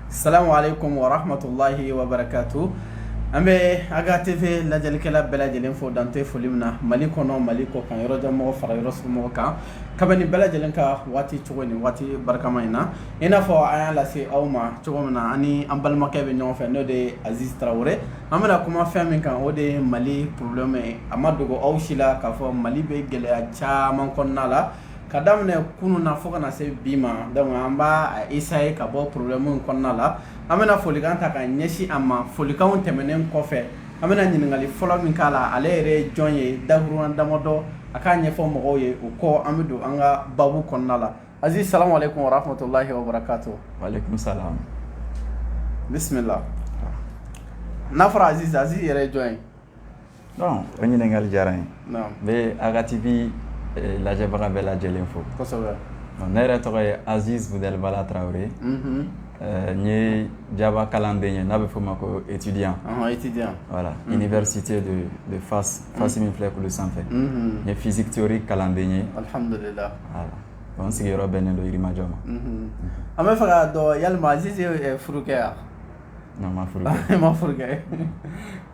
salamu aleykum wa rahmatulahi wa barakatu an bɛ aga tv lajɛlikɛla bɛɛ lajɛlen fo dan tɛ foli min na mali kɔnɔ mali kɔ kan yɔrɔjan mɔgɔ fara yɔrɔsurun mɔgɔ kan ka bɛn ni bɛɛ lajɛlen ka waati cogo nin waati barikama in na i n'a fɔ an y'a lase aw ma cogo min na an ni an balimakɛ bɛ ɲɔgɔn fɛ n'o de ye aziz tarawele an bɛna kuma fɛn min kan o de ye mali problème ye a ma dogo aw si la k'a fɔ mali bɛ gɛlɛya caman kɔnɔna la ka daminɛ kunun na fo ka na se bi ma donc an b'a essayer ka bɔ problème in kɔnɔna la an bɛna folikan ta ka ɲɛsin a ma folikanw tɛmɛnen kɔfɛ an bɛna ɲininkali fɔlɔ min k'a la ale yɛrɛ ye jɔn ye dakuruɲa damadɔ a k'a ɲɛfɔ mɔgɔw ye o kɔ an bɛ don an ka baabu kɔnɔna la aziz salamu aleykum wa rahmatulahi wa barakatu waaleykum salam bisimila n'a fɔra aziz aziz yɛrɛ ye jɔn ye Ɔ o ɲininkakali diyara ye n bɛ agatibi lajɛbaga bɛɛ lajɛ lajɛlenlen fo ne yɛrɛ tɔgɔ ye azbala tarawele n ye jaba kalan bɛ ye n'a bɛ f'o ma ko etidi wala i ni site don fa fasi min filɛ kulu sanfɛ n ye fisiteori kalan bɛ ye n sigiyɔrɔ bɛ ne donmajɔ ma an bɛ fɛ dɔn yalimaze furu kɛ yan Non n ma furu kɛ, ma furu kɛ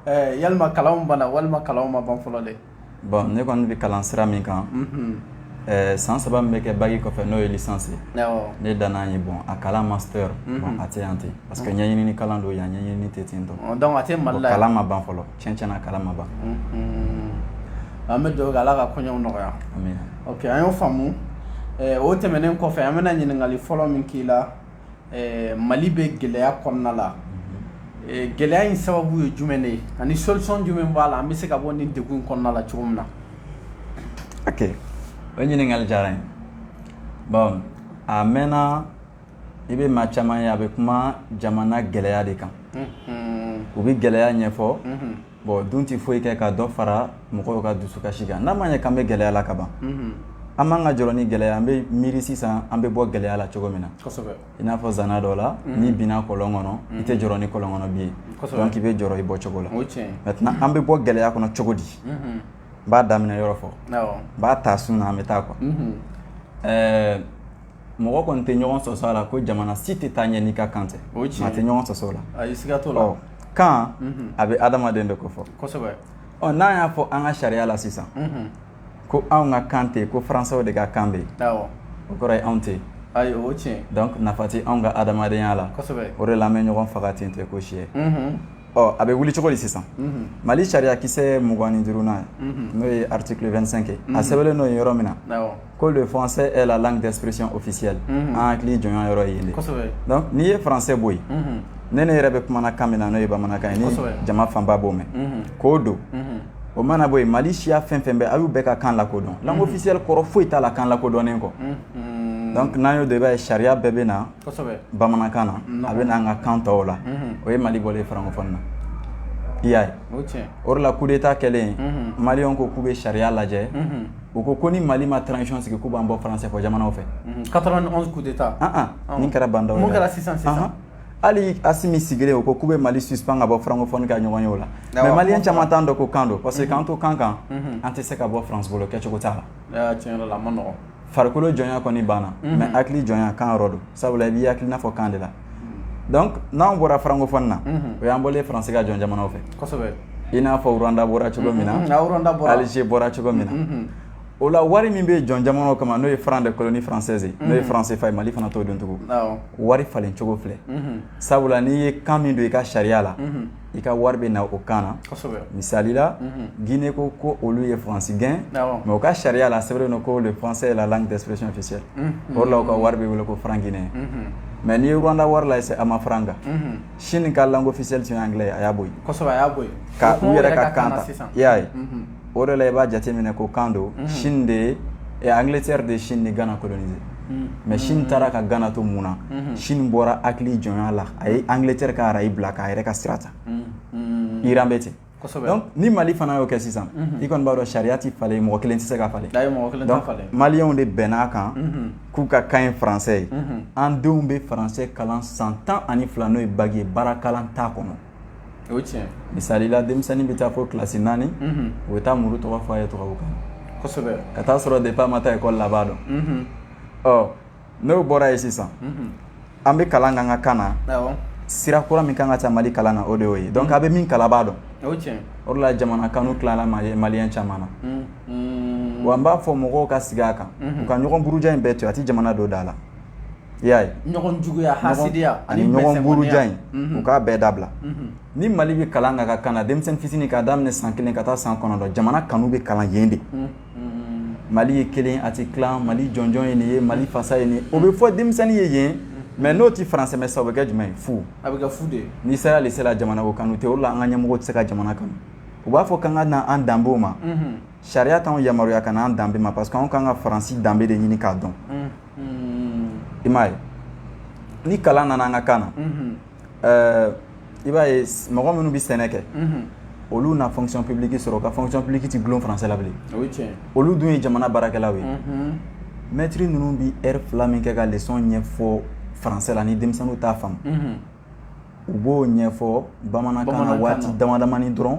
ɛɛ yalima kalanw banna walima kalanw ma ban fɔlɔ dɛ, bon ne kɔni bɛ kalan sira min kan, unhun, ɛɛ san saba min bɛ kɛ baki kɔfɛ n'o ye licence ye, awɔ, ne danna yen bon a kalan master bon a tɛ yan ten parce que ɲɛɲini kalan don yan ɲɛɲini tɛ ten tɔ, ɔ donc a tɛ Mali la yan, kalan ma ban fɔlɔ tiɲɛ tiɲɛ na kalan ma ban, unhun, an bɛ dugawu kɛ Ala ka koɲɛw nɔgɔya, amina, ok an y'o faamu, ɛɛ o tɛmɛnen kɔfɛ an bɛna ɲininkali fɔlɔ min k'i la mali bɛ gɛlɛya kɔnɔna la gɛlɛya in sababu ye jumɛn de ye ani solution jumɛn b'a la an bɛ se ka bɔ nin degun in kɔnɔna la cogo min na ok o ɲininkali diyara n ye bon a mɛnna i bɛ maa caman ye a bɛ kuma jamana gɛlɛya de kan u bɛ gɛlɛya ɲɛfɔ bon dun tɛ foyi kɛ ka dɔ fara mɔgɔw ka dusukasi kan n'a ma ɲɛ k'an bɛ gɛlɛya la kaban an man ka jɔrɔ ni gɛlɛya an bɛ miiri sisan an bɛ bɔ gɛlɛya la cogo min na i n'a fɔ zana dɔ la n'i binna kɔlɔn kɔnɔ i tɛ jɔrɔ ni kɔlɔn kɔnɔ bin ye donc i bɛ jɔrɔ i bɔcogo la maintenant an bɛ bɔ gɛlɛya kɔnɔ cogo di n b'a daminɛ yɔrɔ fɔ n b'a ta sun na an bɛ taa quoi ɛɛ mɔgɔ kɔni tɛ ɲɔgɔn sɔsɔ a la ko jamana si tɛ taa ɲɛ n'i ka kan tɛ o ye tiɲɛ maa tɛ ɲɔgɔn sɔsɔ o la ayi siga t'o la ɔ kan a bɛ adamaden de kofɔ kosɛbɛ ɔ n'an y'a fɔ an ka sariya la sisan ko anw ka kan tɛ ko faransɛw de ka kan bɛ yen awɔ o kɔrɔ ye anw tɛ yen ayi o ye tiɲɛ ye donc nafa tɛ anw ka adamadenya la kosɛbɛ o de la an bɛ ɲɔgɔn faga ten tɛ ko si ye ɔ a bɛ wuli cogo di sisan mali sariyakisɛ mugan ni duurunan n'o ye article 25 ye a sɛbɛnlen n'o ye yɔrɔ min na awɔ ko le français est la langue d'expression officielle mhm. an hakili jɔnya yɔrɔ ye yen de donc n'i ye français bɔ yen mhm. ne ne yɛrɛ bɛ kumana kan min na n'o ye bamanankan ye ni jama fanba b'o mɛn mhm. k'o don o mana bɔ yen mali siya fɛn fɛn bɛ a y'u bɛɛ ka kan lakodɔn langue officielle kɔrɔ foyi t'a la kan lakodɔnnen kɔ donc n'an y'o dɔn i b'a ye sariya bɛɛ bɛ na bamanankan na a bɛ na an ka kan tɔw la o ye mali bɔlen francophone na i y'a ye o de la coup d'état kɛlen maliyɛnw ko k'u bɛ sariya lajɛ u ko ko ni mali ma transition sigi k'u b'an bɔ français fɔ jamanaw fɛ 91 coup d'état nin kɛra ba ndaw mun kɛra sisan sisan hali asimi sigilen o ko k'u bɛ mali suspend ka bɔ francophonie ka ɲɔgɔn ye o la mais maliyɛn caman t'a dɔn ko kan don parce que k'an to kan kan an tɛ se ka bɔ france bolo kɛcogo t'a la tiɲɛ yɛrɛ la a ma nɔgɔn farikolo jɔnya kɔni banna mais hakili jɔnya kan yɔrɔ don sabula i b'i hakilina fɔ kan de la n'an bɔra francophone na o y'an bɔlen france ka jɔn jamanaw fɛ i n'a fɔ rwanda bɔra cogo min na alger bɔra cogo min na o la wari min bɛ jɔn jamanaw kama n'o ye franc de colonie française n'o ye franc CFA ye mali fana t'o dɔn tugun wari falencogo filɛ sabula n'i ye kan min don i ka sariya la i ka wari bɛ na o kan na misali la Guinée ko ko olu ye France gɛn mais u ka sariya la a sɛbɛnnen don ko le français est la langue d'expression officielle o de la u ka wari bɛ wele ko franc guinéen mais n'i ye Rwanda wari lajɛ c'est Amafranga Chine ka langue officielle tun ye anglais ye a y'a bɔ yen ka u yɛrɛ ka kan ta i y'a ye. o de la i b'a jateminɛ ko kan don chine de ye ɛ angleterre de ye chine ni ghana colonisé mais chine taara ka ghana to mun na chine bɔra hakili jɔnya la a ye angleterre ka arayi bila k'a yɛrɛ ka sira ta iran bɛ ten ni mali fana y'o kɛ sisan i kɔni b'a dɔn sariya tɛ falen mɔgɔ kelen tɛ se k'a falen maliyɛnw de bɛnna a kan k'u ka kan ye français ye an denw bɛ français kalan san tan ani fila n'o ye bac ye baara kalan t'a kɔnɔ o ye tiɲɛ misali la denmisɛnnin bɛ taa fo kilasi naani o bɛ taa muru tɔgɔ fɔ a ye tubabukan kosɛbɛ ka taa sɔrɔ depuis a ma taa école la a b'a dɔn ɔ n'o bɔra yen sisan an bɛ kalan k'an ka kan na sira kura min kan ka ta mali kalan na o de y'o ye donc a bɛ min kalan a b'a dɔn o la jamana kanu tilala maliyɛn caman na wa n b'a fɔ mɔgɔw ka sigi a kan u ka ɲɔgɔn buruja in bɛɛ to a tɛ jamana don da la i y'a ye ɲɔgɔn juguya hasidiya ani ɲɔgɔn buruja in u k'a bɛɛ dabila ni mali bɛ kalan k'a ka kan na denmisɛnnin fitinin k'a daminɛ san kelen ka taa san kɔnɔntɔn jamana kanu bɛ kalan yen de mali ye kelen a tɛ tilan mali jɔnjɔn ye nin ye mali fasa ye nin ye o bɛ fɔ denmisɛnnin ye yen mais n'o tɛ français mɛn sa o bɛ kɛ jumɛn ye fu a bɛ kɛ fu de ye n'i sera lycée la jamana ko kanu tɛ o la an ka ɲɛmɔgɔ tɛ se ka jamana kanu u b'a fɔ k'an ka na an danbew ma sariya t'anw yamaruya ka na an danbe ma parce que anw kan ka faransi danbe de ɲini k'a dɔn i m'a ye ni kalan nana an ka kan na ɛɛ i b'a ye mɔgɔ minnu bɛ sɛnɛ kɛ olu na fonction publique sɔrɔ ka fonction publique ti gulon français la bilen olu dun ye jamana baarakɛlaw ye mɛtiri ninnu bi ɛri fila min kɛ ka leçon ɲɛfɔ français la ni denmisɛnninw t'a faamu u b'o ɲɛfɔ bamanankan na waati damadamani dɔrɔn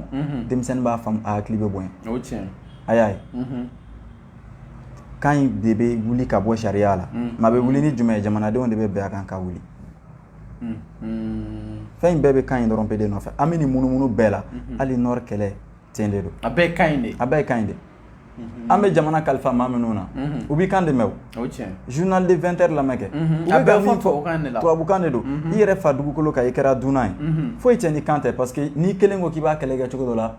denmisɛnnin b'a faamu a hakili bɛ bonya a y'a ye kan in de bɛ wuli ka bɔ sariya la mais a bɛ wuli ni jumɛn ye jamanadenw de bɛ bɛn a kan ka wuli fɛn in bɛɛ bɛ kan in dɔrɔn pe de nɔfɛ an bɛ nin munumunu bɛɛ la hali nord kɛlɛ tiɲɛ de don a bɛɛ ye kan in de a bɛɛ ye kan in de an bɛ jamana kalifa maa minnu na u b'i kan dɛmɛ journal de 20 heures lamɛn kɛ a bɛ fɔ tubabukan de la tubabukan de don i yɛrɛ fa dugukolo kan i kɛra dunan ye foyi tɛ ni kan tɛ parce que n'i kelen ko k'i b'a kɛlɛ kɛ cogo dɔ la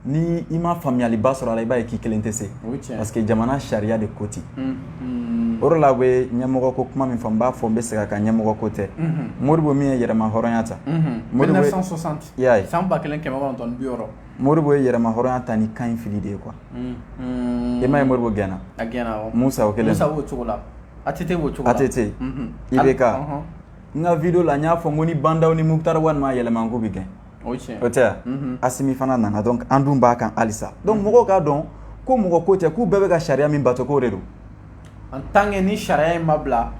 ni i ma faamuyaliba sɔrɔ a la i b'a ye k'i kelen tɛ se parce que jamana sariya de ko ten o de la u bɛ ɲɛmɔgɔ ko kuma min fɔ n b'a fɔ n bɛ segin a kan ɲɛmɔgɔ ko tɛ Modibo min ye yɛrɛma hɔrɔnya ta 1960 i y'a ye san 1960 Modibo ye yɛrɛma hɔrɔnya ta ni kan in fili de ye quoi i m'a ye Modibo gɛnna a gɛnna awɔ Musa o kelen Musa b'o cogo la ATT b'o cogo la ATT IBK n ka video la n y'a fɔ n ko ni Ba Ndaw ni Mukutari Wani m'a yɛlɛma n k'u bɛ gɛn o tɛ Asimi fana nana donc an dun b'a kan halisa donc mɔgɔw k'a dɔn ko mɔgɔ ko tɛ k'u bɛɛ bɛ ka sariya min bato k'o de don en tant que ni sariya in ma bila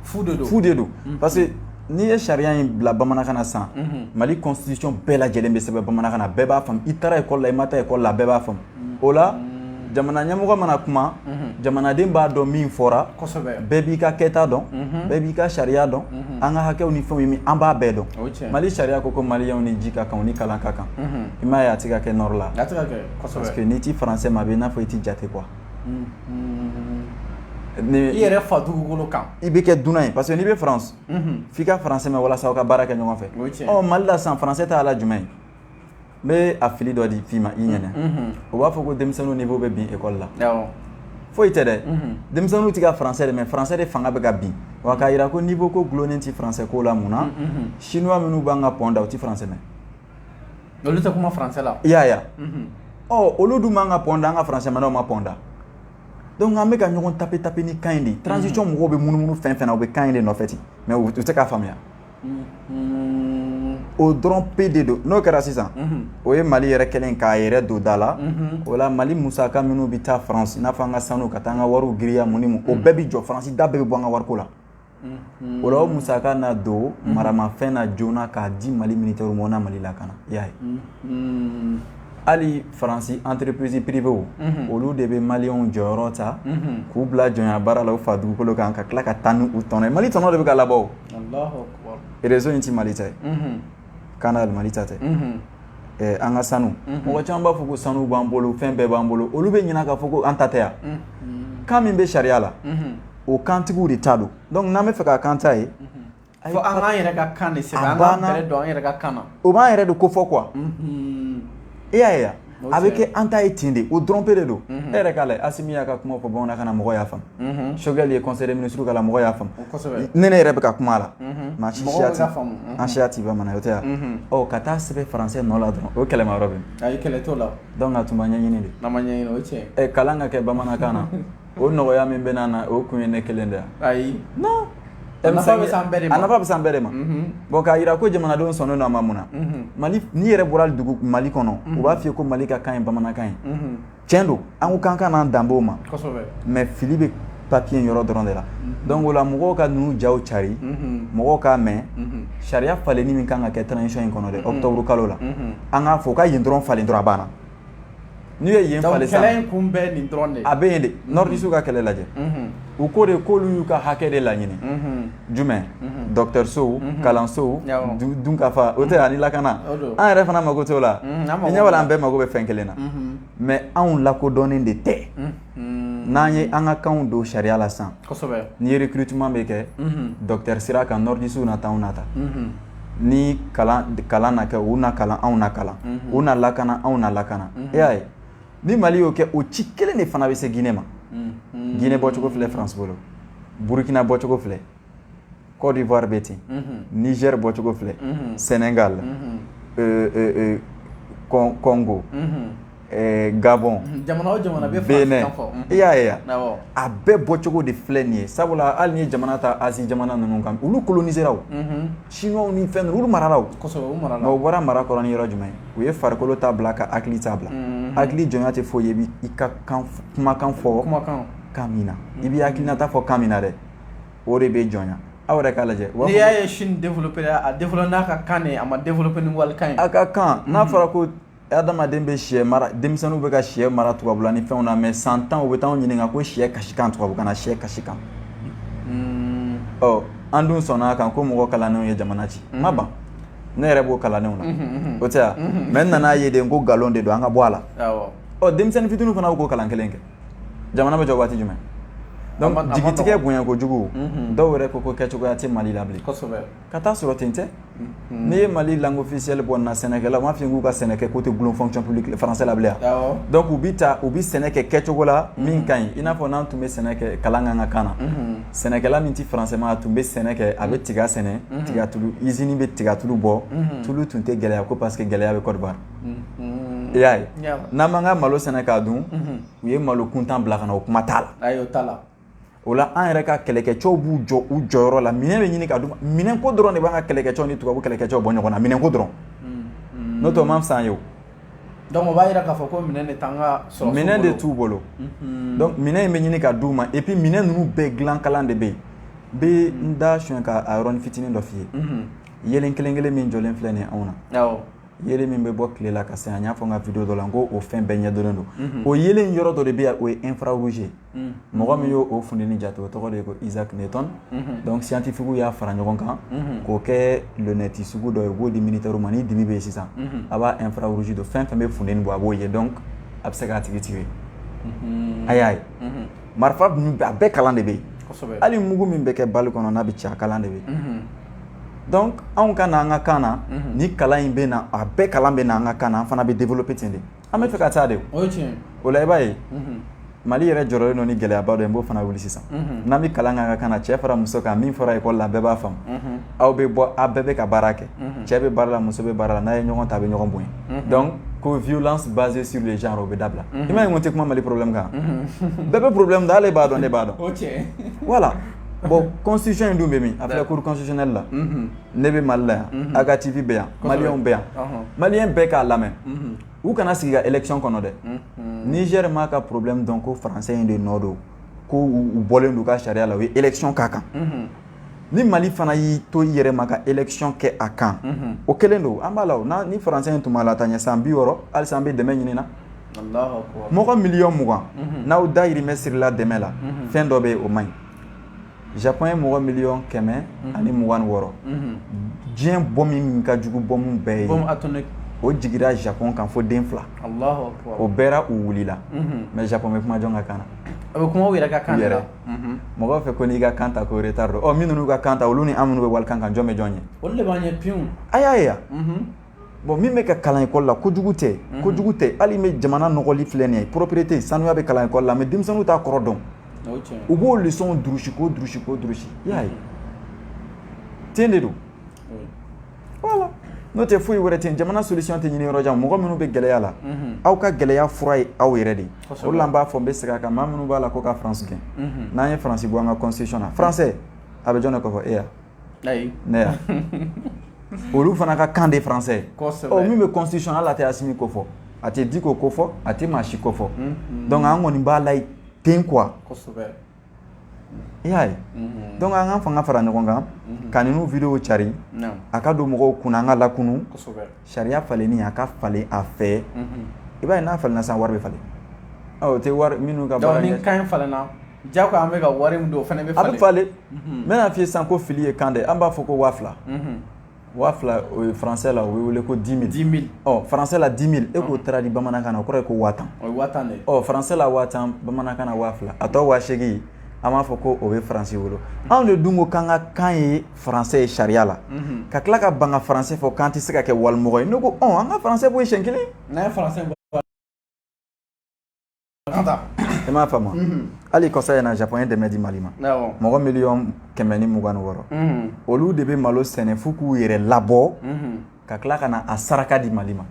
fu de don fu de don parce que n'i ye sariya in bila bamanankan na sisan mali constitution bɛɛ lajɛlen bɛ sɛbɛn bamanankan na bɛɛ b'a faamu i taara école la i ma taa école la bɛɛ b'a faamu o la jamana ɲɛmɔgɔ mana kuma jamanaden b'a dɔn min fɔra bɛɛ b'i ka kɛta dɔn bɛɛ b'i ka sariya dɔn an ka hakɛw ni fɛnw ye min an b'a bɛɛ dɔn mali sariya ko ko maliyɛnw ni ji ka kan ni kalan ka kan i m'a ye a tɛ ka kɛ nord la parce que n'i tɛ français mɛn a bɛ n'a fɔ i tɛ jate quoi i yɛrɛ fa dugukolo kan i bɛ kɛ dunan ye parce que n'i bɛ France f'i ka français mɛn walasa ka baara kɛ ɲɔgɔn fɛ mali la sisan français t'a la jumɛn ye n bɛ a fili dɔ di f'i ma i ɲɛna o b'a fɔ ko denmisɛnninw niveau bɛ bin école la foyi tɛ dɛ denmisɛnninw tɛ ka français de mɛn français de fanga bɛ ka bin wa k'a jira ko niveau ko dulonnen tɛ français ko la munna chinois minnu b'an ka pont da u tɛ français mɛn olu tɛ kuma français la i y'a ye ɔ olu dun b'an ka pont da an ka français mɛnnaw ma pont da donc an bɛ ka ɲɔgɔn tape tape ni kan in de ye transition mɔgɔw bɛ munumunu fɛn fɛn na u bɛ kan in de nɔfɛ ten mais u tɛ k'a faamuya o dɔrɔn pe de don n'o kɛra sisan o ye mali yɛrɛ kɛlen k'a yɛrɛ don da la o la mali musaka minnu bɛ taa faransi n'a fɔ an ka sanu ka taa an ka wariw giriya mun ni mun o bɛɛ bɛ jɔ faransi da bɛɛ bɛ bɔ an ka wariko la o la o musaka na don maramafɛn na joona k'a di mali militaire ma o na mali lakana i y'a ye hali faransi entreprise privéw olu de bɛ maliyɛnw jɔyɔrɔ ta k'u bila jɔnya baara la u fa dugukolo kan ka tila ka taa n'u tɔnɔ ye mali tɔnɔ de bɛ ka labɔ o réseau in tɛ mali ta ye canal mali ta tɛ an ka sanu mɔgɔ caman b'a fɔ ko sanu b'an bolo fɛn bɛɛ b'an bolo olu bɛ ɲinɛ k'a fɔ ko an ta tɛ yan kan min bɛ sariya la o kantigiw de ta don donc n'an b'a fɛ ka k'an ta ye Fo an k'an yɛrɛ ka kan de sɛbɛn an k'an bɛrɛ don an yɛrɛ ka kan na o b'an yɛrɛ de ko fɔ quoi i y'a ye a bɛ kɛ an ta ye ten de o dɔrɔn pe de don e yɛrɛ k'a lajɛ Asimi y'a ka kuma fɔ bamanankan na mɔgɔw y'a faamu Choguel ye conseil des ministres k'a la mɔgɔw y'a faamu ne ne yɛrɛ bɛ ka kuma a la mais a si siya tɛ an siya tɛ bamanan ye o tɛ wa ɔ ka taa sɛbɛn français nɔ la dɔrɔn o kɛlɛma yɔrɔ bɛ min ayi kɛlɛ t'o la donc a tun ma ɲɛɲini de n'a ma ɲɛɲini o ye tiɲɛ ye kalan ka kɛ bamanankan na. o nɔgɔya min bɛna na o kun ye ne kelen de ayi a nafa bɛ s'an bɛɛ de ma bon k'a jira ko jamanadenw sɔnnen don a ma munna mali n'i yɛrɛ bɔra dugu mali kɔnɔ u b'a fɔ i ye ko mali ka kan ye bamanankan ye cɛn don an ko k'an ka n'an danbew ma mais fili bɛ papiye yɔrɔ dɔrɔn de la donc o la mɔgɔw ka ninnu jaw cari mɔgɔw k'a mɛn sariya falenni min kan ka kɛ transition in kɔnɔ dɛ octobre kalo la an k'a fɔ u ka yen dɔrɔn falen dɔrɔn a banna N'u ye yen falen sisan, donc kɛlɛ in kun bɛ nin dɔrɔn de ye, a bɛ yen de, nordistew ka kɛlɛ lajɛ, unhun, u ko de k'olu y'u ka hakɛ de laɲini, unhun, jumɛn? dɔgɔtɔrɔsow, kalansow, dunkafa, o tɛ wa ani lakana, o don, an yɛrɛ fana mako t'o la, unhun, i ɲɛ b'a la an bɛɛ mako bɛ fɛn kelen na, unhun, mais anw lakodɔnnen de tɛ, unhun n'an ye an ka kanw don sariya la sisan ni ye recrutement bɛ kɛ docteur sira kan nordistew na ta anw na ta ni kalan na kɛ u na kalan anw na kalan u na lakana anw na lakana e y'a ye ni Mali y'o kɛ o ci kelen de fana bɛ se Guinée ma Guinée bɔcogo filɛ France bolo Burkina bɔcogo filɛ Côte d'Ivoire bɛ ten Niger bɔcogo filɛ Sénégal Congo Gabon i y'a ye a bɛɛ bɔcogo de filɛ nin ye sabula hali n'i ye jamana ta Asie jamana ninnu kan olu colonisera Chinoisw ni fɛn ninnu olu marala u bɔra mara kɔrɔ ni yɔrɔ jumɛn u ye farikolo ta bila ka hakili ta bila hakili jɔnya tɛ foyi ye i ka kumakan fɔ kan min na i bɛ hakilinata fɔ kan min na dɛ o de bɛ jɔnya aw yɛrɛ k'a lajɛ n'i y'a ye Chine développé a développé n'a ka kan a ma développé ni walikan ye a ka kan n'a fɔra ko adamaden bɛ sɛ mara denmisɛnninw bɛ ka shɛ mara tubabula ni fɛnw na mais san tan u bɛ t'an ɲininka ko sɛ kasikan tubabukan na sɛ kasikan ɔ an dun sɔnna a kan ko mɔgɔ kalannenw ye jamana ci ma ban ne yɛrɛ b'o kalannenw na o tɛ mais n nana a ye de ko nkalon de don an ka bɔ a la ɔ denmisɛnnin fitinin fana bɛ ko kalan kelen kɛ jamana bɛ jɔ waati jumɛn donc jigitigɛ bonya kojugu mhm. dɔw yɛrɛ ko ko kɛcogoya tɛ mali la bilen kosɛbɛ ka taa sɔrɔ ten tɛ mhm. n'i ye mali langue officielle bɔ na sɛnɛkɛla u m'a f'i k'u ka sɛnɛ kɛ ko tɛ gulon fonction publique français la bilen yan donc u bi taa u bi sɛnɛ kɛ kɛcogo la mhm. min ka ɲi i n'a fɔ n'an tun bɛ sɛnɛ kɛ kalan k'an ka kan na sɛnɛkɛla min tɛ français mɛn a tun bɛ sɛnɛ kɛ a bɛ tiga sɛnɛ tigatulu usine bɛ tigatulu bɔ tulu tun tɛ gɛlɛya ko parce que gɛlɛya bɛ Côte d'Ivoire I y'a ye n'an m'an ka malo sɛnɛ k'a dun u ye malo kuntan bila ka na o kuma t'a la o la an yɛrɛ ka kɛlɛkɛcɛw b'u jɔ u jɔyɔrɔ la minɛn bɛ ɲini ka minɛn ko dɔrɔn de b'an ka kɛlɛkɛcɛw ni tubabu kɛlɛkɛcɛw bɔ ɲɔgɔn na minɛn ko dɔrɔn n'o tɛ o man fisa an ye o donc o b'a jira k'a fɔ ko minɛn de t'an ka sɔrɔdasiw bolo minɛn de t'u bolo donc minɛn in bɛ ɲini ka d'u ma et puis minɛn ninnu bɛɛ dilan kalan de bɛ yen n bɛ n da sonyɛ ka a yɔrɔnin fitinin dɔ f'i ye yeelen kelen-kelen min jɔlen filɛ nin ye anw na awɔ. yeelen min bɛ bɔ tile la ka se an y'a fɔ n ka video dɔ la n ko o fɛn bɛɛ ɲɛdɔnnen don mhm. o yeelen yɔrɔ dɔ de bɛ yan o ye infrarouge ye mhm. mɔgɔ min y'o funteni jate o tɔgɔ de ye ko Isaac Newton mhm. donc scientifique y'a fara ɲɔgɔn kan k'o kɛ lunette sugu dɔ ye u b'o di militaire ma ni dibi bɛ yen sisan a b'a infrarouge don fɛn fɛn bɛ funteni bɔ a b'o ye donc a bɛ se k'a tigi tirer a y'a ye. marifa ninnu a bɛɛ kalan de bɛ yen hali mugu min bɛ kɛ balle kɔnɔ n'a bɛ ci a kalan de bɛ yen donc anw ka na an ka kan na ni kalan in bɛ na a bɛɛ kalan bɛ na an ka kan na an fana bɛ développer ten de an bɛ fɛ ka taa de o la i b'a ye mali yɛrɛ jɔrɔlen don ni gɛlɛyaba dɔ ye n b'o fana wuli sisan n'an bɛ kalan k'an ka kan na cɛ fara muso kan min fɔra école la bɛɛ b'a faamu aw bɛ bɔ aw bɛɛ bɛ ka baara kɛ cɛ bɛ baara la muso bɛ baara la n'a ye ɲɔgɔn ta a bɛ ɲɔgɔn bonya donc ko violence basée sur le genre o bɛ dabila i m'a ye n ko n tɛ kuma mali problème kan bɛɛ bɛ problème dɔn ale b'a dɔn ne b'a dɔn voilà bon constitution in dun bɛ min a bɛ cour constitutionnelle la ne bɛ mali la yan a ka TV bɛ yan maliyɛnw bɛ yan maliyɛn bɛɛ k'a lamɛn u kana sigi ka élection kɔnɔ dɛ Niger m'a ka problème dɔn ko français in de nɔ don ko u bɔlen don u ka sariya la u ye élection k'a kan ni mali fana y'i to i yɛrɛ ma ka élection kɛ a kan o kelen don an b'a la ni français in tun b'a lataa ɲɛ san bi wɔɔrɔ halisa an bɛ dɛmɛ ɲini na mɔgɔ miliyɔn mugan n'aw dayirimɛ sirila dɛmɛ la fɛn dɔ bɛ yen o man ɲi Japon ye mɔgɔ miliyɔn kɛmɛ ani mugan wɔɔrɔ diɲɛ bombe min ka jugu bombe bɛɛ ye o jigira Japon kan fo den fila o bɛɛra u wulila mais Japon bɛ kuma jɔn ka kan na a bɛ kuma a yɛrɛ ka kan na mɔgɔw fɛ ko n'i y'i ka kan ta ko retard don minnu y'u ka kan ta olu ni an minnu bɛ walikan kan jɔn bɛ jɔn ɲɛ olu de b'an ɲɛ pewu a y'a ye yan bon min bɛ ka kalan école la ko kojugu tɛ ko kojugu tɛ hali bi jamana nɔgɔlen filɛ nin ye propreté sanuya bɛ kalan école la mais denmisɛnninw t'a kɔrɔ dɔn u b'o leçon durusi k'o durusi k'o durusi i y'a ye ten de don n'o tɛ foyi wɛrɛ tɛ jamana solution tɛ ɲinin yɔrɔ jan mɔgɔ minnu bɛ gɛlɛya la aw ka gɛlɛya fura ye aw yɛrɛ de o la n b'a fɔ n bɛ segin a kan maa minnu b'a la ko ka faransi gɛn n'an ye faransi bɔ an ka constitution na faransɛ a bɛ jɔn de ko fɔ e yan ayi ne yan olu fana ka kan de faransɛ min bɛ constitution la a tɛ Asimi ko fɔ a tɛ Diko ko fɔ a tɛ maa si ko fɔ dɔnku an kɔni b'a laɲini ten qu i y'a ye unhun donc an k'an fanga fara ɲɔgɔn kan unhun ka ninnu videow cari naamu a ka don mɔgɔw kunna an ka lakunu kosɛbɛ sariya falenni a ka falen a fɛ unhun i b'a ye n'a falenna sisan wari be falen ɔ o tɛ wari minnu ka baara donc ni kan in falenna diyagoya an bɛ ka wari min don o fɛnɛ be falen a be falen unhun n bena f'i ye sisan ko fili ye kan de an b'a fɔ ko 2000 unhun waa fila o ye faransɛ la o bɛ wele ko dix mille dix mille ɔ faransɛ la dix mille e k'o taara di bamanankan na o kɔrɔ ye ko waa tan o ye waa tan de ye ɔ faransɛ la waa tan bamanankan na waa fila a tɔ waa seegin an b'a fɔ ko o bɛ faransi bolo anw de dun ko k'an ka kan ye faransɛ ye sariya la ka tila ka ban ka faransɛ fɔ k'an tɛ se ka kɛ walimɔgɔ ye ne ko ɔ an ka faransɛ bɔ yen siɲɛ kelen n'an ye faransɛ bɔ i m'a faamu hali kɔsa in na japon ye dɛmɛ di mali ma mɔgɔ miliyɔn kɛmɛ ni mugan ni wɔɔrɔ olu de bɛ malo sɛnɛ f'u k'u yɛrɛ labɔ ka tila ka na a saraka di mali ma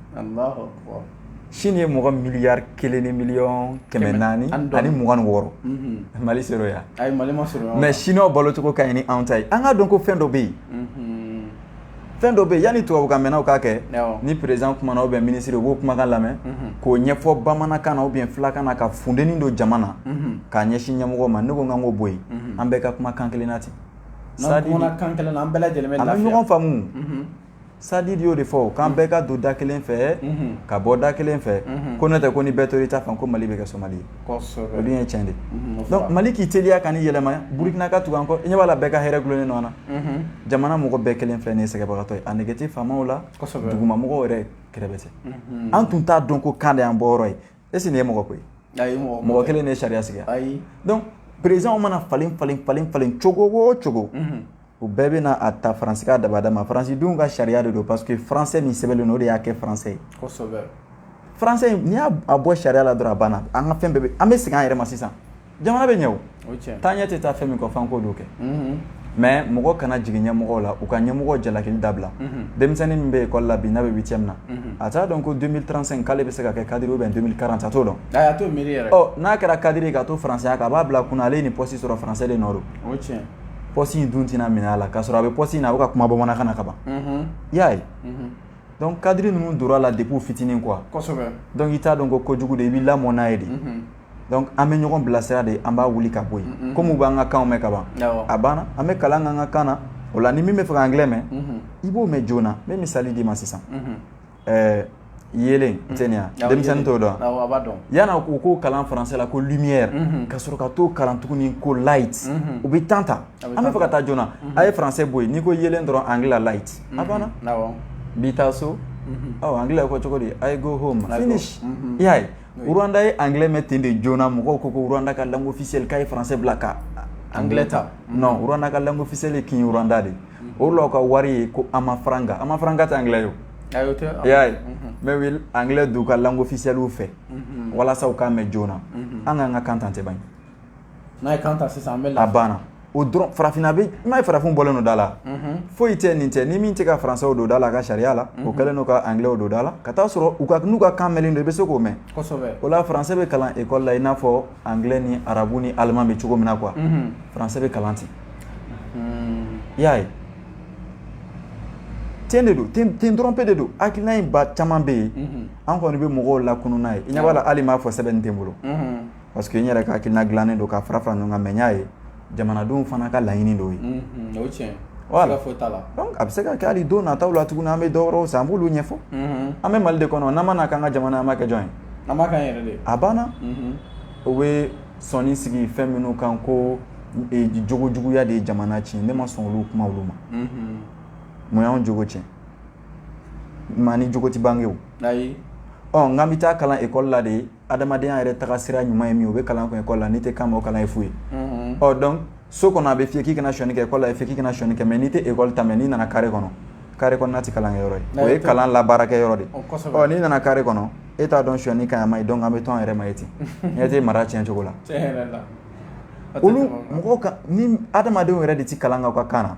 chine ye mɔgɔ miliyari kelen ni miliyɔn kɛmɛ naani ani mugan ni wɔɔrɔ mali sero yan mais chinois balocogo ka ɲi ni anw ta ye an k'a dɔn ko fɛn dɔ bɛ yen fɛn dɔ bɛ yen yanni tubabukan mɛnnaw k'a kɛ ni président kumana ou bien minisiri u b'o kumakan lamɛn k'o ɲɛfɔ bamanankan na ou bien fulakan na ka funteni don jama na k'a ɲɛsin ɲɛmɔgɔ ma ne ko an k'o bɔ yen an bɛɛ ka kuma kan kelen na ten n'an kumana kan kelen na an bɛɛ lajɛlen bɛ lafiya an bɛ ɲɔgɔn faamu sadi y'o de fɔ k'an bɛɛ ka don da kelen fɛ ka bɔ da kelen fɛ ko n'o tɛ ko ni bɛɛ tora i ta fan ko mali bɛ kɛ somali ye kosɛbɛ o dun ye tiɲɛ de ye donc Mali k'i teliya ka nin yɛlɛma Burkina ka tugu an kɔ i ɲɛ b'a la bɛɛ ka hɛrɛ gulonnen don ɲɔgɔn na jamana mɔgɔ bɛɛ kɛlen filɛ nin ye sɛgɛnbagatɔ ye a nege tɛ faamaw la kosɛbɛ dugumamɔgɔw yɛrɛ kerebɛtɛ an tun t'a dɔn ko kan de y'an bɔyɔrɔ ye est ce que nin ye mɔgɔ ko ye ayi mɔgɔ mɔgɔ kelen de ye sariya sigi ayi donc président mana falen cogo o cogo U bɛɛ bɛna a ta faransi ka dabada ma faransidenw ka sariya de don parce que faransɛ min sɛbɛnlen don o de y'a kɛ faransɛ ye faransɛ n'i y'a bɔ sariya la dɔrɔn a banna an ka fɛn bɛɛ an bɛ segin an yɛrɛ ma sisan jamana bɛ ɲɛ taa ɲɛ tɛ taa fɛn min kɔ f'an k'o dɔn kɛ mais mɔgɔ kana jigin ɲɛmɔgɔ la u ka ɲɛmɔgɔ jalaki dabila denmisɛnnin min bɛ ekɔli la bi n'a bɛ huitième na a t'a dɔn ko deux mille trente-cinq k'ale bɛ se ka kɛ cadre ou bien deux mille quarante a t'o dɔn n'a kɛra cadre ye ka to faransɛya kan a b'a bila kun na ale ye nin poste sɔrɔ faransɛ de nɔ don pɔsi in dun tɛna minɛ a la k'a sɔrɔ a bɛ pɔsi in na a bɛ ka kuma bamanankan na ka ban i y'a ye dɔnku kadiri ninnu tor'a la depuis u fitinin kuwa dɔnku i t'a dɔn ko kojugu de i b'i lamɔ n'a ye de dɔnku an bɛ ɲɔgɔn bilasira de an b'a wuli ka bɔ yen kɔmi u b'an ka kanw mɛn ka ban a banna an bɛ kalan k'an ka kan na o la ni min b'a fɛ ka angilɛ mɛn i b'o mɛn joona n bɛ misali d'i ma sisan ɛɛ yeelen mm-hmm. tɛ nin ya denmisɛnnin t'o dɔn yan wa u k'o kalan faransɛ la ko lumière mm-hmm. ka sɔrɔ ka t'o kalan tuguni ko light mm-hmm. u bɛ temps ta an bɛ fɛ ka taa joona a ye faransɛ bɔ yen n'i ko yeelen dɔrɔn angilɛ la light a banna bi taa so ɔ angilɛ ko cogo di I go home finish i y'a ye Rwanda ye angilɛ mɛn ten de joona mɔgɔw ko ko Rwanda ka langue officielle k'a ye faransɛ bila ka angilɛ ta non Rwanda ka langue officielle ye Kinyarwanda de ye o la u ka wari ye ko amafaranga amafaranga tɛ angilɛ ye i y'a ye mɛ u ye angilɛ don u ka langue officielle fɛ walasa u k'a mɛn joona an k'an ka kan ta tɛ ban n'an ye kan ta sisan a banna o dɔrɔn farafinna bɛ i m'a ye farafin bɔlen don da la foyi tɛ nin cɛ ni min tɛ ka faransɛ don da la a ka sariya la o kɛlen don ka angilɛ don da la ka t'a sɔrɔ u ka n'u ka kan don i bɛ se k'o mɛn o la faransɛ bɛ kalan ekɔli la i n'a fɔ angilɛ ni arabu ni alimani bɛ cogo min na quoi faransɛ bɛ kalan ten Hmm. I y'a ye. Ten de don, ten ten dɔrɔn pe de don. Hakilina in ba caman bɛ yen. Unhun. An kɔni bɛ mɔgɔw lakunun n'a ye. I ɲɛ b'a la hali n m'a fɔ sɛbɛnni tɛ n bolo. Unhun. Parce que n yɛrɛ ka hakilina dilannen don k'a fara fara ɲɔgɔn kan mais n y'a ye jamanadenw fana ka laɲini dɔ ye. Unhun, o ye tiɲɛ ye. Voilà, siga foyi t'a la. Donc a bɛ se ka kɛ hali don nataw la tuguni an bɛ dɔ wɛrɛw san an b'olu ɲɛfɔ. Unhun. An bɛ Mali de kɔnɔ n'an ma n'a k'an ka jamana ye an b'a kɛ jɔn ye? An b'a k'an yɛrɛ de ye. A banna. Unhun. O bɛ sɔɔni sigi fɛn minnu kan ko e, jogo juguya de ye jamana tiɲɛ ne ma sɔn olu kuma olu ma mhm. mun y'anw jogo tiɲɛ maa ni jogo ti bange o ayi ɔ n k'an bɛ taa kalan ekɔli la de adamadenya yɛrɛ taga sira ɲuman ye min o bɛ kalan kun ekɔli la n'i tɛ kan mɛn o kalan ye fu ye mhm. ɔ donc so kɔnɔ a bɛ f'i ye k'i kana sonyani kɛ ekɔli la a bɛ f'i ye k'i kana sonyani kɛ mɛ n'i tɛ ekɔli ta mɛn n'i nana kare kɔnɔ kare kɔnɔna tɛ kalankɛyɔrɔ ye o ye kalan labaarakɛyɔrɔ de ye ɔ n'i nana kare kɔnɔ e t'a dɔn sonyani ka ɲi a man ɲi donc an bɛ to an yɛrɛ ma ye ten ne tɛ mara tiɲɛ cogo la olu mɔgɔ ni adamadenw yɛrɛ de tɛ kalan k'aw ka kan na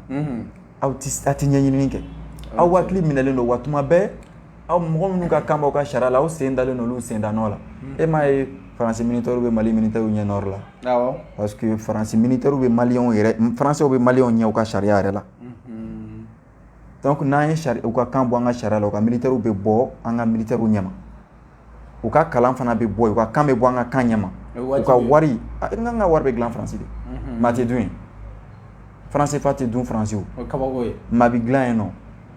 aw a tɛ ɲɛɲini kɛ aw hakili minɛlen don wa tuma bɛɛ aw mɔgɔ minnu ka kan b'aw ka sariya la aw sen dalen don olu sen da nɔ la e m'a ye faransi militɛriw bɛ mali militɛriw ɲɛ nɔrɔ la parce que faransi militɛriw bɛ maliyɛnw yɛrɛ faransiw bɛ maliyɛnw ɲɛ u ka sariya yɛrɛ la dɔnku n'an ye sari u ka kan bɔ an ka sariya la u ka militɛriw bɛ bɔ an ka militɛriw ɲɛma u ka kalan fana bɛ bɔ u ka kan bɛ bɔ an ka kan ɲɛma u ka wari an ka wari bɛ dilan faransi de mɛ a tɛ dun faran sefa tɛ dun faransi o ye kabako ye mɛ a bɛ dilan yen nɔ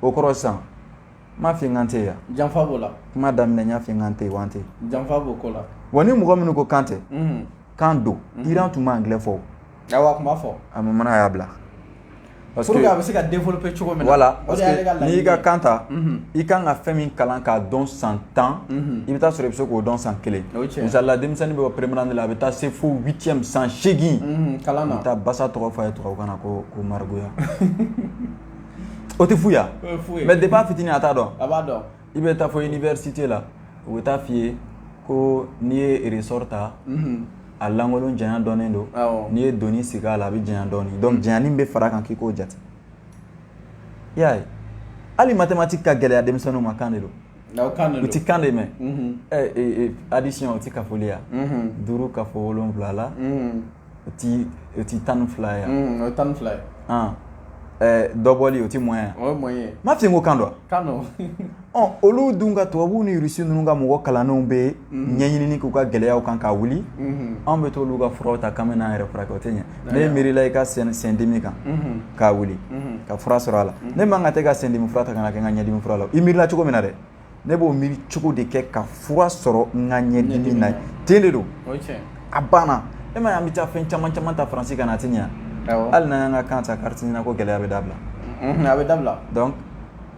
o kɔrɔ sisan n m'a f'i ye n k'an tɛ yen wa janfa b'o la kuma daminɛ n y'a f'i ye n k'an tɛ yen wa an tɛ yen janfa b'o ko la wa ni mɔgɔ minnu ko k'an tɛ k'an don Iran tun b'anglais fɔ o Ayiwa tun b'a fɔ a bamanan y'a bila a bɛ se ka développer cogo min la n'i ka kan ta i kan ka fɛn min kalan k'a dɔn san tan i bɛ taa sɔrɔ i bɛ se k'o dɔn san kelen misali la denmisɛnnin bɛ première année la a bɛ taa se fo huitième san seegin kalan na taa basa tɔgɔ fɔ a ye tubabukan na ko margouillat o tɛ fu ya mais depuis a fitinin a t'a dɔn i bɛ taa fo université la u bɛ taa f'i ye ko n'i ye ressort ta a lankolon janya dɔnnen don n'i ye doni sigi a la a bɛ janya dɔɔnin donc janyanin bɛ fara kan k'i k'o jate i y'a ye hali mathématique ka gɛlɛya denmisɛnninw ma kan de don u ti kan de mɛn addition o ti kafoli ya duuru kafo wolonwula la o ti o ti tan ni fila ya. Mm, o ye tan ni fila ye. An. Ɛɛ dɔbɔli o ti moins ya. o ye moins ye. m'a f'i ye ko kan don. kan don. ɔ olu dun ka tubabuw ni irisi ninnu ka mɔgɔ kalannenw bɛ mm-hmm. ɲɛɲinini k'u ka gɛlɛyaw kan ka wuli mm-hmm. anw bɛ t'olu ka furaw ta k'an bɛ n'an yɛrɛ furakɛ o tɛ ɲɛ ne miirila i ka sendimi kan mm-hmm. ka wuli ka fura sɔrɔ a la ne man ka t'e ka sendimi fura ta ka n'a kɛ n ka ɲɛdimi fura la i miirila cogo min na dɛ ne b'o miiri cogo de kɛ ka fura sɔrɔ n ka ɲɛdimi na ten de don a banna e m'a ye an bɛ taa fɛn caman caman ta faransi ka na a tɛ ɲɛ hali n'an y'an ka kan ta kariti NINA ko gɛlɛya bɛ dabila a bɛ dabila donc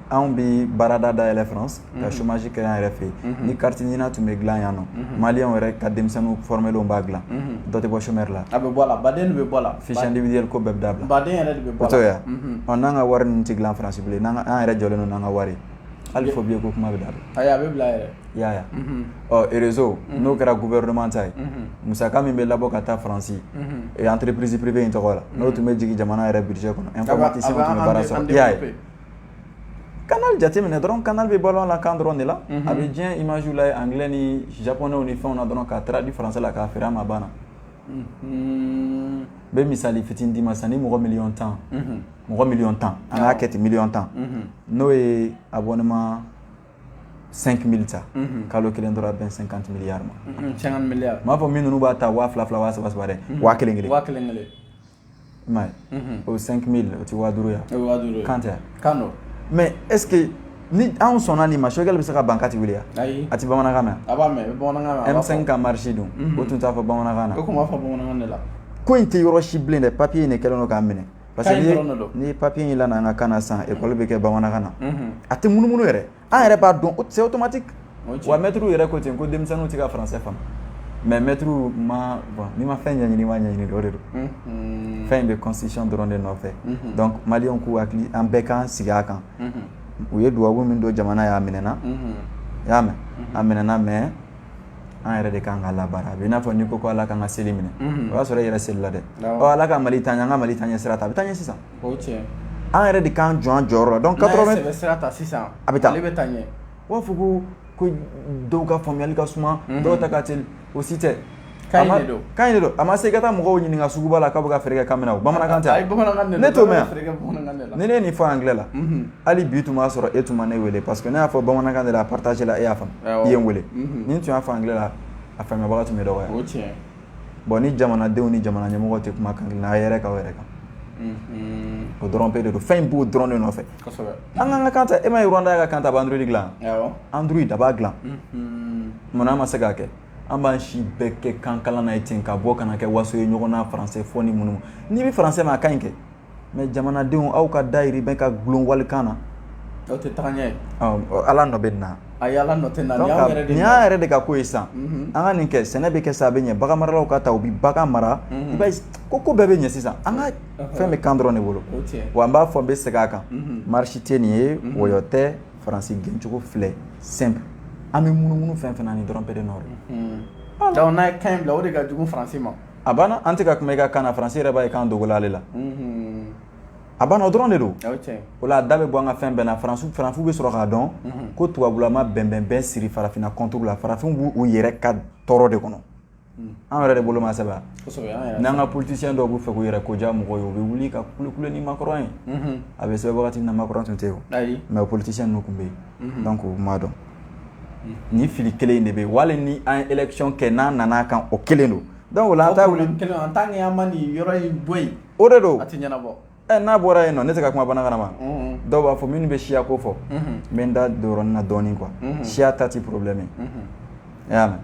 anw bɛ baarada dayɛlɛ faransi ka chômage kɛ an yɛrɛ fɛ yen ni kariti NINA tun bɛ dilan yan nɔ mali yɛrɛ ka denmisɛnnin formelenw b'a dilan dɔ tɛ bɔ chômeur la a bɛ bɔ la baden bɛ bɔ la fiche individuelle ko bɛɛ bɛ dabila baden yɛrɛ bɛ yan n'an ka wari ninnu tɛ dilan faransi bilen an yɛrɛ jɔlen don n'an ka wari hali fo billet ko kuma bɛ dabila a bɛ bila yɛrɛ i y'a ye réseau n'o kɛra gouvernement ta ye musaka min bɛ labɔ ka taa faransi entreprise privée in tɔgɔ la n'o tun bɛ jigin jamana yɛrɛ budget kɔnɔ informaticien tun bɛ baara sɔrɔ i y'a ye Canal jateminɛ dɔrɔn Canal bɛ balo la kan dɔrɔn de la a bɛ diɲɛ image lajɛ anglais ni japonais ni fɛnw na dɔrɔn k'a traduit français la k'a feere an ma banna n bɛ misali fitinin d'i ma sisan ni mɔgɔ miliyɔn tan mɔgɔ miliyɔn tan an k'a kɛ ten miliyɔn tan n'o ye abonnement 5 mille ta kalo kelen dɔrɔn a bɛn 50 milliards ma n m'a fɔ min ninnu b'a ta waa fila fila waa saba saba dɛ waa kelen kelen i m'a ye mhm. o ye cinq mille o ti waa duuru ya kan tɛ kan don mais est ce que ni anw sɔnna nin ma Choguel bɛ se ka ban k'a ti wuli ya ayi a ti bamanankan mɛn a b'a mɛn bamanankan mɛn M5 ka marche dun mhm. o tun t'a fɔ bamanankan na o tun b'a fɔ bamanankan de la ko in tɛ yɔrɔ si bilen dɛ papiye in de kɛlen don k'an minɛ parce que ni papiye in lana an ka kan na sisan ekɔli bɛ kɛ bamanankan na a tɛ munumunu yɛrɛ an yɛrɛ b'a dɔn c'est automatique wa mɛtiriw yɛrɛ ko ten ko denmisɛnninw tɛ ka français faamu mais mɛtiriw ma bon n'i ma fɛn ɲɛɲini ma ɲɛɲini de o de don fɛn in bɛ constitution dɔrɔn de nɔfɛ donc maliyɛnw k'u hakili an bɛɛ k'an sigi a kan u ye duwawu min don jamana ye a minɛna i y'a mɛn a minɛna mais an yɛrɛ de kan k'a labaara a bɛ i n'a fɔ n'i ko ko ala k'an ka seli minɛ o y'a sɔrɔ i yɛrɛ selila dɛ ɔ ala ka mali taa ɲɛ an ka mali taaɲɛ sira ta a bɛ taa ɲɛ sisan O tiɲɛ an yɛrɛ de k'an jɔ an jɔyɔrɔ la donc ka sɛbɛ sira ta sisan a bɛ taa ale bɛ taa ɲɛ u b'a fɔ ko ko dɔw ka faamuya ka suma dɔw ta ka teli o si tɛ kan in de don a ma se ka taa mɔgɔw ɲininka suguba la k'u bɛ ka feere kɛ kan min na o bamanankan tɛ ne to ni ne ye nin fɔ anglais la hali bi tun b'a sɔrɔ e tun ma ne weele parce que ne y'a fɔ bamanankan de la a partage la e y'a faamu i ye n weele ni n tun y'a fɔ anglais la a faamubaga tun bɛ dɔgɔ bon ni jamanadenw ni jamana ɲɛmɔgɔw tɛ kuma kan kelen na a yɛrɛ ka yɛrɛ kan o dɔrɔn pe de don fɛn in b'o dɔrɔn de nɔfɛ an k'an ka kan ta e m'a ye Rwanda y'a ka kan ta a bɛ Android dilan Android a b'a dilan munna an ma se k'a kɛ an b'an si bɛɛ kɛ kan kalan na ye ten ka bɔ ka na kɛ waso ye ɲɔgɔn na faransɛ fɔ ni minnu n'i bɛ faransɛ mɛn a ka ɲi kɛ mais jamanadenw aw ka dayirimɛ ka gulon walikan na aw tɛ taa ɲɛ ala nɔ bɛ na ayi ala nɔ tɛ nin y'an yɛrɛ de ka ko ye san an ka nin kɛ sɛnɛ bɛ kɛ sa a bɛ ɲɛ bagan maralaw ka taa u bɛ bagan mara ko ko bɛɛ bɛ ɲɛ sisan an ka fɛn bɛ kan dɔrɔn de bolo wa n b'a fɔ n bɛ segin a kan marche tɛ nin ye wɔyɔ tɛ faransi gɛncogo filɛ simple an bɛ munumunu fɛn fɛn na nin dɔrɔn pe de nɔ ye n'a ye kan in bila o de ka jugu faransi ma a banna an tɛ ka kuma i ka kan na faransi yɛrɛ b'a ye k'an dogola ale la, unhun, a banna o dɔrɔn de don, o ye tiɲɛ ye, o la a da bɛ bɔ an ka fɛn bɛɛ la faransi faransiw bɛ sɔrɔ k'a dɔn ko tubabula ma bɛnbɛnbɛn siri farafinna contre la farafinw b'u u yɛrɛ ka tɔɔrɔ de kɔnɔ, an yɛrɛ de bolo m'a sɛbɛn wa, kosɛbɛ, an yɛrɛ, n'an ka politiciens dɔw b'a fɛ k'u yɛrɛ ko diya mɔgɔw ye u bɛ wuli ka kulekule ni Macron ye, unhun, a bɛ sɛbɛn wagati min na Macron tun tɛ yen o, ayi, mais o politiciens ninnu tun bɛ yen, unhun, donc u m'a dɔn ni fili kelen in de bɛ yen hali ni an ye élection kɛ n'a nana kan o kelen don donc o la an t'a wuli problème kelen en tant que an ma nin yɔrɔ in bɔ yen o de don a tɛ ɲɛnabɔ ɛ n'a bɔra yen non ne tɛ ka kuma bamanankan ma dɔw b'a fɔ minnu bɛ siya ko fɔ n bɛ n da don yɔrɔnin na dɔɔnin quoi siya ta tɛ problème ye i y'a mɛn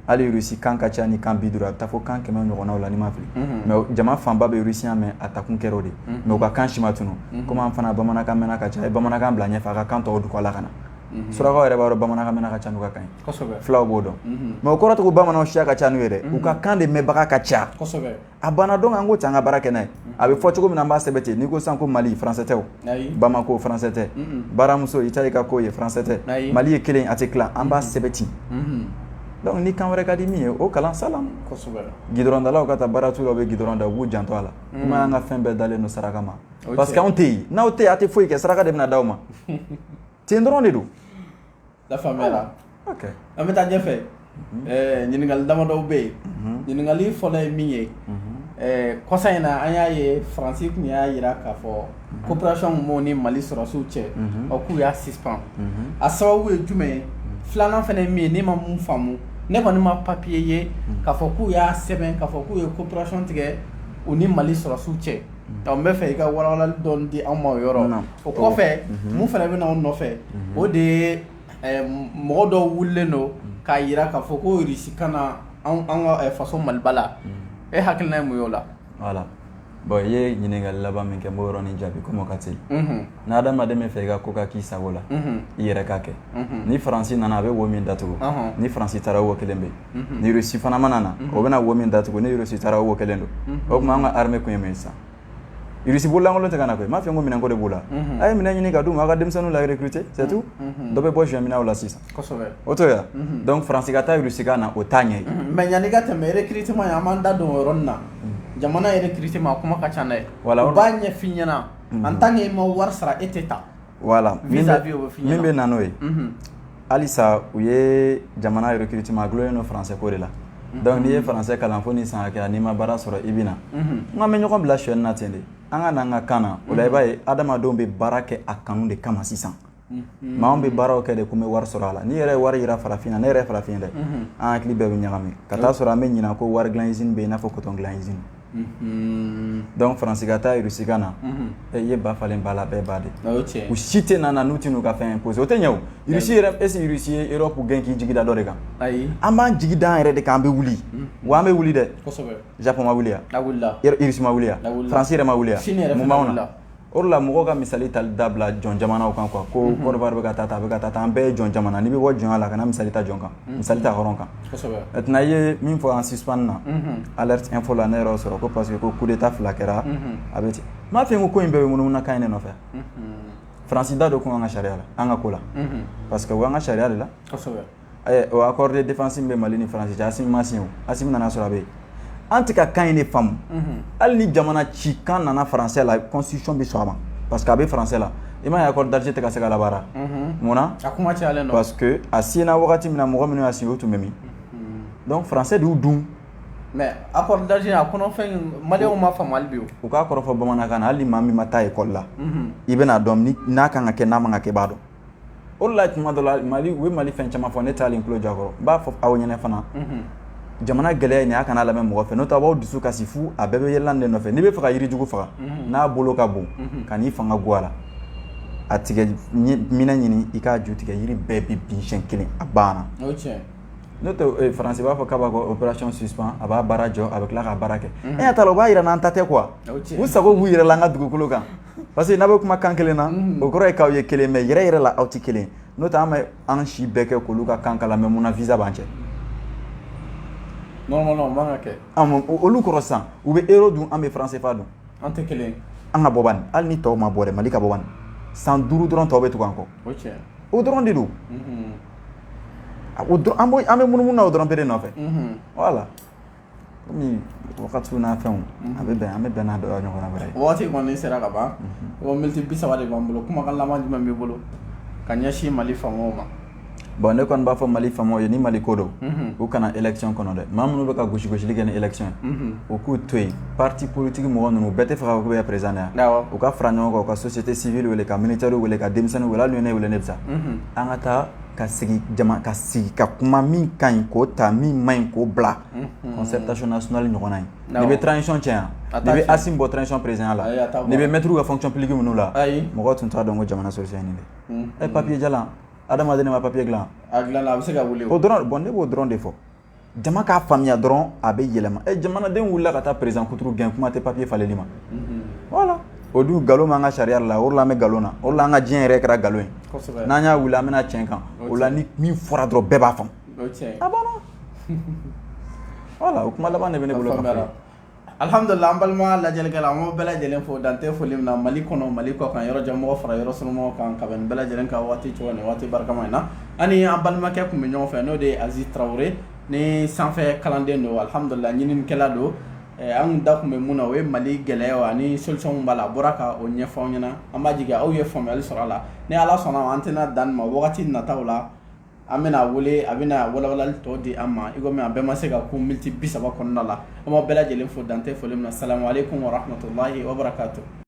hali Russie kan ka ca ni kan bi duuru a bɛ taa fo kan kɛmɛ ɲɔgɔnnaw la ni n ma fili mais o- jama fanba bɛ Russian mɛn a takun kɛra o de ye mais u ka kan si ma tunu komi an fana bamanankan mɛnna ka ca a ye bamanankan bila ɲɛfɛ a ka kan tɔw tugu kɔ la ka na surakaw yɛrɛ b'a dɔn bamanankan mɛnna ka ca n'u ka kan ye fulaw b'o dɔn mais o kɔrɔ tɛ ko bamananw siya ka ca n'u ye dɛ u ka kan de mɛnbaga ka ca a banna donc an k'o ta an ka baara kɛ n'a ye a bɛ fɔ cogo min na an b'a sɛbɛn ten n'i ko sisan ko mali faransɛ tɛ bamakɔ ko faransɛ tɛ baramuso i ta i ka ko ye faransɛ tɛ mali ye kelen a tɛ tila an b'a sɛbɛn ten donc ni kan wɛrɛ ka di min ye o kalan sa gidɔrɔndalaw ka taa baara t'u la u bɛ gidɔrɔn da u b'u janto a la kuma y'an ka fɛn bɛɛ dalen don saraka ma parce que anw tɛ yen n'aw tɛ yen a tɛ foyi kɛ saraka de bɛna d' aw ma ten dɔrɔn de don la faamuyara ok an bɛ taa ɲɛfɛ ɛɛ ɲininkali damadɔw bɛ yen ɲininkali fɔlɔ ye min ye ɛɛ kɔsa in na an y'a ye faransi tun y'a jira k'a fɔ coopération min b'u ni mali sɔrɔsiw cɛ ɔ k'u y'a suspend a sababu ye jumɛn ye filanan fana ye min ye ne ma min faamu ne kɔni ma papier ye k'a fɔ k'u y'a sɛbɛn k'a fɔ k'u ye coopération tigɛ u ni mali sɔrɔsiw cɛ n b'a fɛ i ka walawalali dɔɔnin di anw ma o yɔrɔ na o kɔfɛ min fana bɛ na anw nɔfɛ o de ye mɔgɔ dɔw wulilen don k'a jira k'a fɔ ko irisi ka na an faso maliba la e hakilina ye mun y'o la voilà bon i ye ɲininkali laban min kɛ n b'o yɔrɔnin jaabi komi o ka teli ni adamaden b'a fɛ i ka ko ka k'i sago la i yɛrɛ k'a kɛ ni faransi nana a bɛ wo min datugu ni faransi taara wo kelen bɛ ni irisi fana mana na o bɛna wo min datugu ni irisi taara wo kelen don o tuma an ka armée kun ye mun ye sisan irisi bololankolon tɛ ka na koyi m'a fɛ n ko minɛnko de b'u la a ye minɛn ɲini ka d'u ma a ka denmisɛnninw la recruter c'est tout dɔ bɛ bɔ sonyani na o la sisan o to yan donc faransi ka taa irisi ka na o t'a ɲɛ mais yanni ka tɛmɛ recrutement ye an b'an da don o yɔrɔnin na jamana yɛrɛ recrutement a kuma ka ca dɛ voilà u b'a ɲɛf'i ɲɛna en tant que e ma wari sara e tɛ taa voilà min bɛ na n'o ye halisa u ye jamana yɛrɛ recrutement a dulonnen don faransɛ ko de la donc n'i ye faransɛ kalan fo ni san kɛ n'i ma baara sɔrɔ i bɛ na n ma bɛ ɲɔgɔn bila sonyani na ten de an ka n'an ka kan na o la i b'a ye adamadenw bɛ baara kɛ a kanu de kama sisan maa anw bɛ baaraw kɛ de ko n bɛ wari sɔrɔ a la n'i yɛrɛ ye wari jira farafin na ne yɛrɛ ye farafin ye dɛ an hakili bɛɛ bɛ ɲagami ka t'a sɔrɔ an bɛ ɲina ko wari dilan usine bɛ yen i n'a fɔ coton dilan usine donc faransi ka taa irisi ka na i ye ba falen ba la bɛɛ ba de u si tɛ na n'u tɛ n'u ka fɛn imposer o tɛ ɲɛ o irisi yɛrɛ est-ce que irisi ye europe gɛn k'i jigi da dɔ de kan ayi an b'an jigi da an yɛrɛ de kan an bɛ wuli wa an bɛ wuli dɛ japon ma wuli ya irisi ma wuli ya faransi yɛrɛ ma wuli ya mun b'anw na o la mɔgɔw ka misali tali dabila jɔn jamanaw kan quoi ko côte d'ivoire bɛ ka taa tan a bɛ ka taa tan an bɛɛ ye jɔn jamana n'i bɛ bɔ jɔnya la kana misali ta jɔn kan misali ta hɔrɔn kan maintenant i ye min fɔ an suspend na alerte info la ne yɛrɛ y'o sɔrɔ ko parce que ko coup d'état fila kɛra a bɛ ten m'a fɛ n ko ko in bɛɛ bɛ munumunu kan in de nɔfɛ faransi da don kun an ka sariya la an ka ko la parce que an ka sariya de la accord de défense min bɛ mali ni faransi cɛ assimi ma signé assimi nana sɔrɔ a bɛ yen an tɛ ka kan in de faamu hali ni jamana ci kan nana faransɛ la constitution bɛ sɔn a ma parce que a bɛ faransɛ la i m'a ye accord d'alger tɛ ka se ka labaara mun na a kuma caya parce que a signéra wagati min na mɔgɔ minnu y'a signé o tun bɛ min donc faransɛ de y'u dun mais accord d'alger a maliyɛnw ma faamu hali bi u k'a kɔrɔfɔ bamanankan na hali maa min ma taa école la i bɛn'a dɔn n'a kan ka kɛ n'a ma kɛ b'a dɔn o la tuma dɔ la mali u bɛ mali fɛn caman fɔ ne tɛ hali n tulo jɔ a kɔrɔ n b'a fɔ aw ɲɛna fana jamana gɛlɛya nin a kana lamɛn mɔgɔ fɛ n'o tɛ a b'aw dusu kasi fu a bɛɛ bɛ yɛlɛlan de nɔfɛ n'i bɛ fɛ ka yirijugu faga n'a bolo ka bon kan'i fanga go a la a tigɛ minɛn ɲini i k'a ju tigɛ yiri bɛɛ bɛ bin siɲɛ kelen a banna n'o tɛ faransi b'a fɔ k'a b'a ka opération suspend a b'a baara jɔ a bɛ tila k'a baara kɛ e y'a ta la u b'a jira n'an ta tɛ quoi u sago b'u yɛrɛ la an ka dugukolo kan parce que n'a bɛ kuma kan kelen na o kɔrɔ ye k'aw ye kelen mais yɛrɛ yɛrɛ la aw tɛ kelen n'o tɛ an bɛ an si bɛɛ kɛ k'olu ka kan kalan mais munna visa b'an cɛ non non non man ka kɛ olu kɔrɔ sisan u bɛ euro dun an bɛ franc CFA dun an tɛ kelen an ka bɔ bani hali ni tɔw ma bɔ dɛ mali ka bɔ bani san duuru dɔrɔn tɔw bɛ tugu an kɔ o tiɲɛ o dɔrɔn de don an bɛ munumunu na o dɔrɔn pe de nɔfɛ voilà kɔmi wagati n'a fɛnw a bɛ bɛn an bɛ bɛn n'a dɔ ɲɔgɔn wɛrɛ waati kɔni sera ka ban o miniti bi saba de b'an bolo kumakan laban jumɛn b'i bolo ka ɲɛsin mali faamaw ma bon ne kɔni b'a fɔ mali faamaw ye ni mali ko don u kana élection kɔnɔ dɛ maa minnu bɛ ka gosigosili kɛ ni élection ye u k'u to yen pati politigi mɔgɔ ninnu bɛɛ tɛ fɛ k'u bɛ président yan u ka fara ɲɔgɔn kan ka société civile wele ka militaire wele ka denmisɛnninw wele ne wele ne bɛ taa an ka taa ka sigi jama ka sigi ka kuma min ka ɲi k'o ta min man ɲi k'o bila concertation nationale ɲɔgɔnna ye n'i bɛ transition janya n'i bɛ asimi bɔ transition président la n'i bɛ mɛtiriw ka fonction publique minnu la mɔgɔ tun t'a dɔn ko jamana solution ye nin de ɛ papier jalan adamaden de ma papier dilan a dilanna a bɛ se ka wuli o dɔrɔn bon ne b'o dɔrɔn de fɔ jama k'a faamuya dɔrɔn a bɛ yɛlɛma ɛ jamanaden wulila ka taa perezan kuturu gɛn kuma tɛ papiye faleli ma voilà o dun nkalon b'an ka sariya la o de la an bɛ nkalon na o de la an ka diɲɛ yɛrɛ kɛra nkalon ye n'an y'a wuli an bɛna tiɲɛ kan o la ni min fɔra dɔrɔn bɛɛ b'a faamu a banna voilà o kuma laban de bɛ ne bolo alihamdulila an balima lajɛlikɛla an b'aw bɛɛ lajɛlen fo dan tɛ foli min na mali kɔnɔ mali kɔkan yɔrɔ jan mɔgɔ fara yɔrɔ surun mɔgɔ kan ka bɛn nin bɛɛ lajɛlen ka waati cogo ni waati barikama in na an ni an balimakɛ tun bɛ ɲɔgɔn fɛ n'o de ye aziz tarawele ni sanfɛ kalanden don alihamdulila ɲininikɛla don eh, an tun da tun bɛ mun na o ye mali gɛlɛyaw ani solution b'a la a bɔra ka o ɲɛfɔ an ɲɛna an b'a jigi aw ye faamuyali sɔrɔ a la ni ala sɔnn'a ma an tɛna dan nin ma wagati nataw la an bɛna a wele a bɛna walawalali tɔ di an ma i kɔmi a bɛɛ ma se ka kun miniti bi saba kɔnɔna la an b'aw bɛɛ lajɛlen fo dan tɛ foli min na salamu aleykum wa rahmatulahi wa barakatuh